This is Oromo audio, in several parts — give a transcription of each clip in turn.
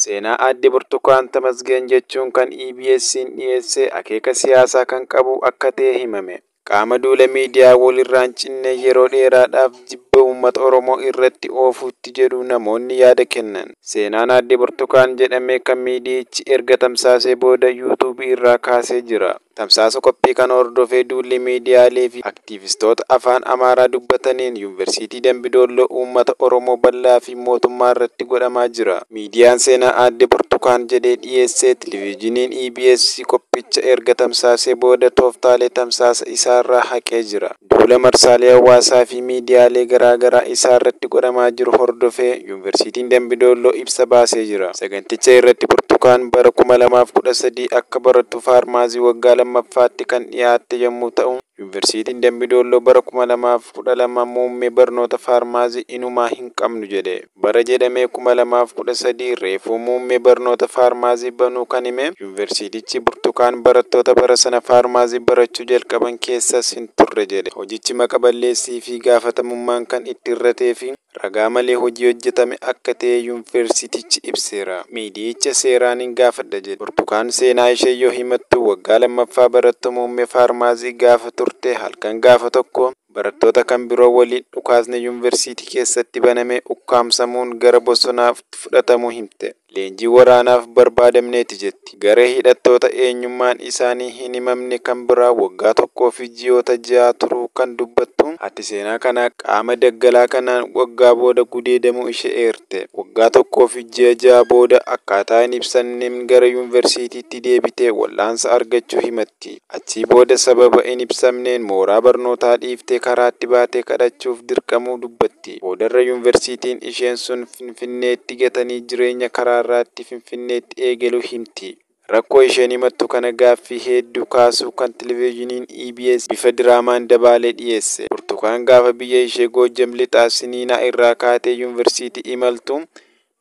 Seenaa Aadde Burtukaan Tamasgeen jechuun kan EBSn dhiyeesse akeeka siyaasaa kan qabu akka ta'e himame. Qaama duula miidiyaa walirraa hin cinne yeroo dheeraadhaaf jibba uummata Oromoo irratti oofuutti jedhu namoonni yaada kennan. Seenaan Aadde Burtukaan jedhame kan miidiyichi erga tamsaasee booda YouTube irraa kaasee jira. Tamsaasa qophii kana hordofee duulli miidiyaalee fi aktiivistoota Afaan Amaaraa dubbataniin Yuunvarsiitii Dambi Doolloo uummata Oromoo bal'aa fi mootummaa irratti godhamaa jira. Miidiyaan seenaa Aadde Burtukaan jedhee dhiyeesse Televizhiniin EBS qophicha erga tamsaasee booda tooftaalee tamsaasa isaarraa haqee jira. Duula marsaalee hawaasaa fi miidiyaalee garaa garaa isaa irratti godhamaa jiru hordofee Yuunvarsiitiin Dambi Doolloo ibsa baasee jira. Saganticha irratti Burtukaan bara 2013 akka barattuu Faarmaasii waggaa 2ffaatti kan dhiyaatte yommuu ta'u, Yuunvarsiitiin Dambi Doolloo bara 2012 muummee barnoota Faarmaasii inumaa hin qabnu jedhe. Bara jedhamee 2013 reefuu muummee barnoota faarmaazii banuu kan hime Yuunvarsiitichi Burtukaan barattoota bara sana faarmaazii barachuu jalqaban keessas hin turre jedhe. Hojichi maqa balleessii fi gaafatamummaan kan itti hir'atee fi ragaa malee hojii hojjetame akka ta'e Yuunvarsiitichi ibseera. Miidiyicha seeraanin gaafadha jedhe. Burtukaan seenaa ishee yoo himattu waggaa 2ffaa barattuu muummee faarmaazii gaafa turte halkan gaafa tokko, Barattoota kan biroo waliin dhukaasni yunvarsiitii keessatti banamee ukkaamsamuun gara bosonaatti fudhatamuu himte. Leenjii waraanaaf barbaadamneeti jetti. Garee hidhattoota eenyummaan isaanii hin himamne kan biraa waggaa tokkoo fi ji'oota ja'a turuu kan dubbattu haati seenaa kanaa qaama daggalaa kanaan waggaa booda gudeedamuu ishee eerte. Waggaa tokkoo fi ji'a ja'a booda akkaataa hin ibsamneen gara yunvarsiitiitti deebitee wal'aansa argachuu himatti. ti. Achii booda sababa hin ibsamneen mooraa barnootaa dhiiftee karaatti baatee kadhachuuf dirqamuu dubbatti. Boodarra yunvarsiitiin isheen sun Finfinneetti gatanii jireenya karaarraatti Finfinneetti eegaluu himti. Rakkoo isheen himattu kana gaaffii heedduu kaasuu kan Televejiiniin EBS bifa diraamaan dabaalee dhiyeesse. Burtukaan gaafa biyya ishee Goojjam Lixaa Siniinaa irraa kaatee yunvarsiitii imaltu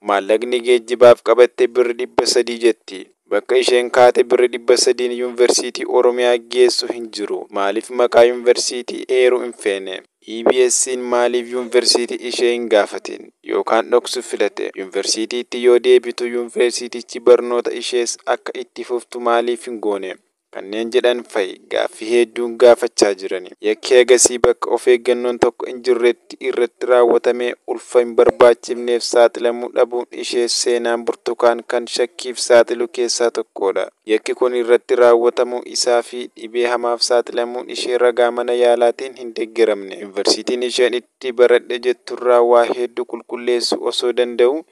Maallaqni geejjibaaf qabatte birri 300 jetti. Bakka isheen kaate birri 300n Yunversiitii Oromiyaa geessu hin jiru. Maaliif maqaa Yunversiitii eeruu hin feene? EBSn maaliif Yunversiitii ishee hin gaafatin? Yookaan dhoksu filate? Yunversiitiitti yoo deebitu Yunversiitichi barnoota ishees akka itti fuftu maaliif hin goone? kanneen jedhan fa'i gaaffii heedduun gaafachaa jirani. Yakki agasii bakka of eeggannoon tokko hin jirretti irratti raawwatamee ulfa hin barbaachifneef saaxilamuu dhabuun ishee seenaan Burtukaan kan shakkiif saaxilu keessaa tokkoodha. Yakki kun irratti raawwatamuu isaa fi dhibee hamaaf saaxilamuun ishee ragaa mana yaalaatiin hin deggeramne. Yunvarsiitiin isheen itti baradhe jetturraa waa heeddu qulqulleessuu osoo danda'uu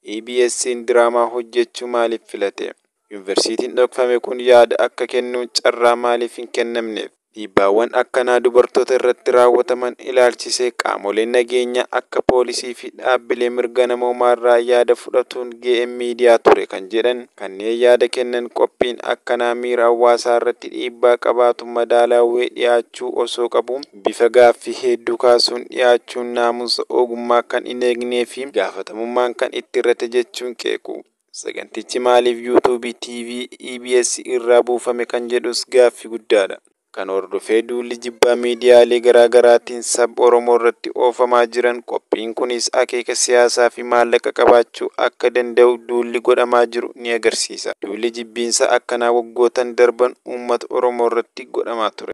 EBSn diraamaa hojjechuu maaliif filate? Yunvarsiitiin dhokfame kun yaada akka kennu carraa maaliif hin kennamneef? Dhiibbaawwan akkanaa dubartoota irratti raawwataman ilaalchisee qaamoleen nageenyaa akka poolisii fi dhaabbilee mirga namoomaarraa yaada fudhatuun ga'een miidiyaa ture kan jedhan kanneen yaada kennan qophiin akkanaa miira hawaasaarratti dhiibbaa qabaatu madaalaawee dhiyaachuu osoo qabuu Bifa gaaffii heedduu kaasuun dhiyaachuun naamusa oogummaa kan hin eegnee fi gaafatamummaan kan itti hir'ate jechuun qeequ. Sagantichi maaliif YouTube, TV, EBS irraa buufame kan jedhus gaaffii guddaa dha. Kana hordofee duulli jibbaa miidiyaalee garaa garaatiin sab Oromoo irratti oofamaa jiran qophiin kunis akeeka siyaasaa fi maallaqa qabaachuu akka danda'u duulli godhamaa jiru ni agarsiisa. Duulli jibbiinsaa akkanaa waggootan darban uummata Oromoo irratti godhamaa ture.